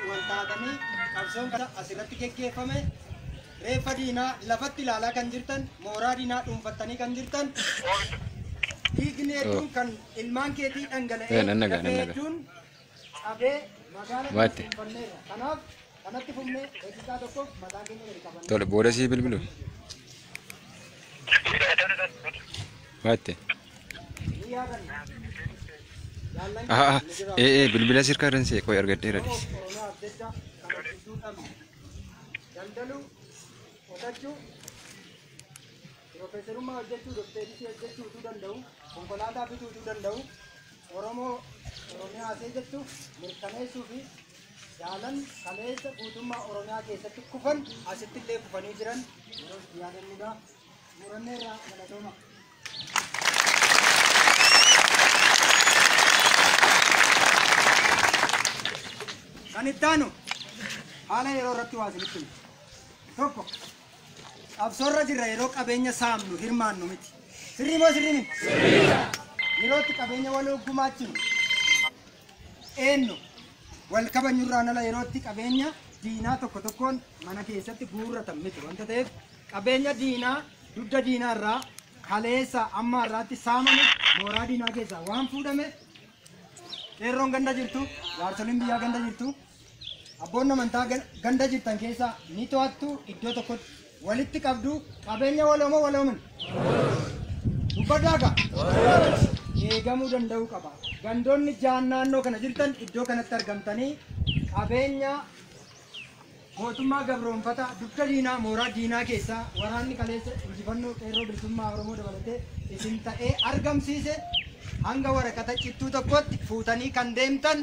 wal taatanii qabsoon kana asirratti geggeeffame reeffa diinaa lafatti ilaalaa kan jirtan mooraa diinaa dhuunfattanii kan jirtan dhiigni hedduun kan ilmaan keetii dhangala'ee Eh, nan nagaa, nan lafee nagaa. hedduun cabee magaala kana Waatti. dhuunfanneerra. Kanaaf kanatti fufnee eegsisaa tokkoof mataa keenya gadi qabanne. Tole booda sii bilbilu. Waatte. Aha, aha. Ee, ee, bilbila sirkaa irran see qoy argadheera dhiis. Daldaluu, qotachuu, piroofeesarummaa hojjechuu, dokteerisii hojjechuu utuu danda'u, konkolaataa bituu utuu danda'u, Oromoo Oromiyaa see jettu mirkaneessuu fi jaalan kaleessa guutummaa Oromiyaa keessatti kufan asitti illee kufanii jiran yeroo itti yaadannudha. Muranneerraa galatooma. Kan itti aanu haala yeroo irratti waa isinitti hima. Tokko qabsoorra jirra yeroo qabeenya saamnu hirmaannu miti. Sirrii moo sirrii miti? Yerootti qabeenya waloo gumaachinu eennu wal kabanyurraan ala yerootti qabeenya diinaa tokko tokkoon mana keessatti guurratan miti wanta ta'eef qabeenya diinaa dugda diinaa irraa kaleessa amma irraatti saamame mooraa diinaa keessaa waan fuudhame qeerroon ganda jirtu jaarsoliin biyyaa ganda jirtu Abboonni amantaa gan- ganda jirtan keessaa ni to'attu iddoo tokkotti walitti qabdu qabeenya waloomoo waloomin dubbadaaga eegamuu danda'uu qaba. Gandoonni jaan naannoo kana jirtan iddoo kanatti argamtanii qabeenya mootummaa gabroonfataa dugda diinaa mooraa diinaa keessaa waraanni kaleessa injifannoo qeerroo bilisummaa Oromoo dabalatee isin ta'ee argamsiise hanga waraqata cittuu tokkotti fuutanii kan deemtan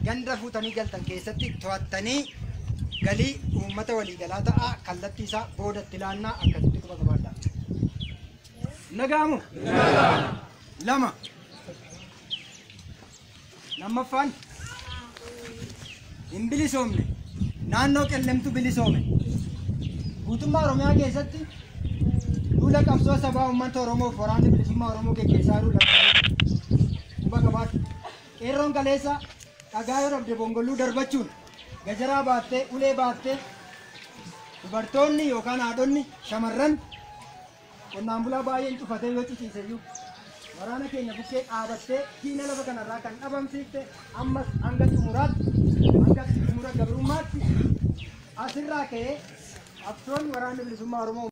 ganda fuutanii galtan keessatti to'attanii galii uummata waliigalaa ta'aa kallattii isaa boodatti laannaa akkasitti quba qabaadhaa. Nagaamu? Lama. Lammaffaan hin bilisoomne naannoo qellemtu bilisoome guutummaa Oromiyaa keessatti duula qabsoo sabaa uummata Oromoof waraanni bilisummaa Oromoo geggeessaa jiru lakkaalee quba qabaadha. Qeerroon kaleessa dhagaa yoo dhabde bongolluu darbachuun, gajaraa baattee, ulee baattee dubartoonni yookaan haadhonni, shamarran qonnaan bulaa baay'een cufatee yoo ciciise iyyuu waraana keenya bukkee dhaabattee diina lafa kanarraa kan dhabamsiifte ammas hanga xumuraatti, hanga xumura gabrummaatti asirraa ka'ee qabsoon waraanni bilisummaa Oromoo.